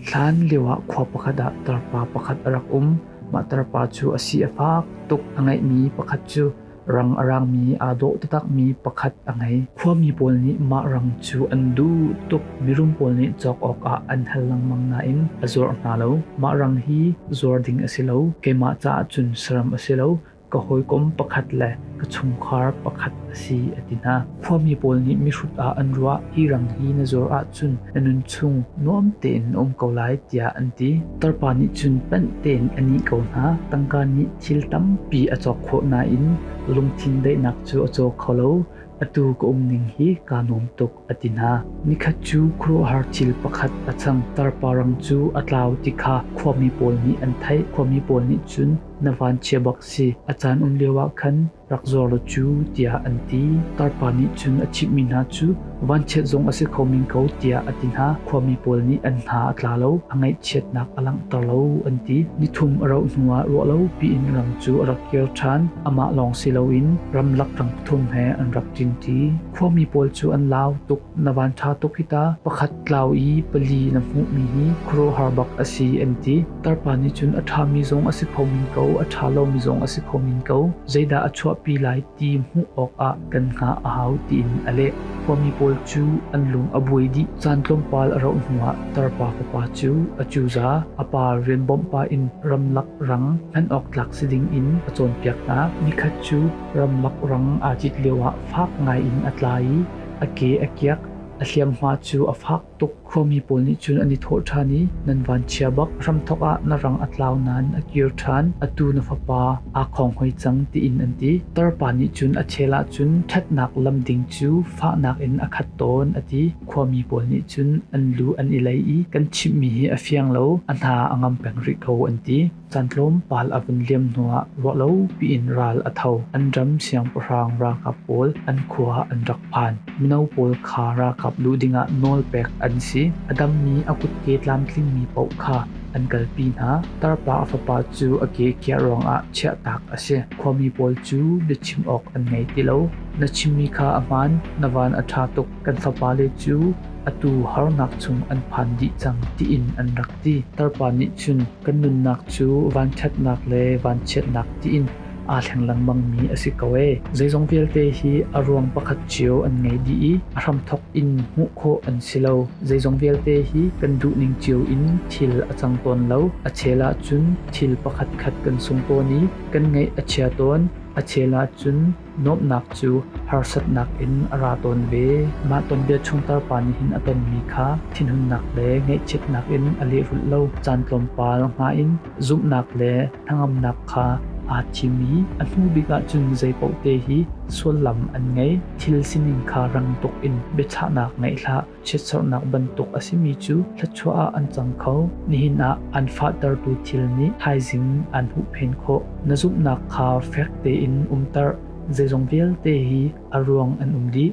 Hlanlio ah khua pakhat ah tarpa pakhat a rak um. Mah tarpa cu a si a fak tuk a ngeihmi pakhat cu rang a raangmi aa dawh taktakmi pakhat a ngei. Khuami pawl nih mah rang cu an duh tuk. Mirum pawl nih cawk awkah an hal lengmang nain a zuarh hna lo. Mah rang hi zuar ding a si lo. Keimah caah cun saram a si lo. ka hawikom pakhat le ka chungkhar pakhat a si a ti hna. Khuami pawl nih mihrut ah an ruah, hi rang hi na zuar ahcun na nunchung nuam tein na um ko lai tiah an ti. Tarpa nih cun panh tein a nih ko hna. Tangka nih thil tampi a cawk khawh nain lungthin daihnak cu a caw kho lo. Atu ka um ning hi kaa nuam tuk. A ti hna. Nikhat cu khuaruahhar thil pakhat a cang. Tarparang cu a tlau ti kha khuami pawl nih an theih. Khuami pawl nih cun, Na vanchia bak si, a caan um lioah khan rak zuar law cu, tiah an ti. Tarpa nih cun a chimhmi hna cu vanchiat zong a si kho men ko, tiah a ti hna. Khuami pawl nih an hna a tla lo, a ngaihchiatnak a langhter lo, an ti. Nithum a rauh hnuah ruah lo piin ram cu a rak kir ṭhan. Amah lawng si loin ramlak ram pathum he an rak ṭinṭi. Khuami pawl cu an lau tuk. Na van ṭha tuk hi ta. Pakhat tlau i pali na hmuhmi hi khuaruahhar bak a si an ti. Tarpa nih cun a ṭhami zong a si kho men ko, a ṭha lomi zong a si kho men ko. Zeidah a chuahpi lai ti hmuh awkah kan hngah a hau tiin a leh. Khuami pawl cu an lung a buai dih. Caan tlawmpal a rauh hnuah tarpa fapa cu a cuza a pa rian bawmh pah in ramlak rang hman awk tlak si ding in a cawnpiak hna. Nikhat cu Rammak rang aa cit lioah fak ngaiin a tla i a ke a kiak. A hliamhma cu a fak tuk. Khuami pawl nih cun an i thawh ṭhan i, Nan vanchia bak, hramthawk ah na rang a tlau nain a kir ṭhan. Atu na fapa aa khonghoi cang, tiin an ti. Tarpa nih cun a chel ahcun ṭhatnak lam ding cu fahnak in a khat tawn, a ti. Khuami pawl nih cun an lu an i lei i, Kan chimhmi hi a fiang lo, a hna a ngam peng rih ko, an ti. Caan tlawmpal a vun liam hnuah ruahlopi in ral a tho. An ram siangpahrang ralkap pawl an khua an rak phan. Mino pawl kha ralkap luh dingah nawlpek an si. A dammi a kutke tlamtlingmi paoh kha an kalpi hna. Tarpa fapa cu a ke kiah ruangah chiahtak a si. Khuami pawl cu biachim awk an ngei ti lo. Na chimmi kha a hmaan, na van a ṭha tuk, kan fapale cu atu harnak chung an phan dih cang tiin an rak ti tarpa nih cun kan nunnak cu vanṭhatnak le vanchiatnak tiin aa thleng lengmangmi a si ko ee. Zeizong vialte hi a ruang pakhat cio an ngei dih i a hramthawk in hmuh khawh an si lo. Zeizong vialte hi kan duh ning cio in thil a cang tawn lo. A chel ahcun thil pakhatkhat kan sung tawn i kan ngaih a chia tawn. A chel ahcun Nuamhnak cu harsatnak in a ra tawn ve. Mah tonbia chung tarpa nihhin a tonmi kha thinhunnak le ngaihchiatnak in a lehrulh lo. Caan tlawmpal hma in zumhnak le hnangamnak kha aa thim i a hnu bik ahcun zeipaohte hi suallam an ngei. Thil sining kha rang tuk in biachahnak ngeih hlah. Chiatserhnak bantuk a simi cu thluachuah ah an cang kho. Nihin ah an fahtertu thil nih thaizing an huhphenh khawh. Na zumhnak kha fek tein umter. Zeizong vialte hi a ruang an um dih.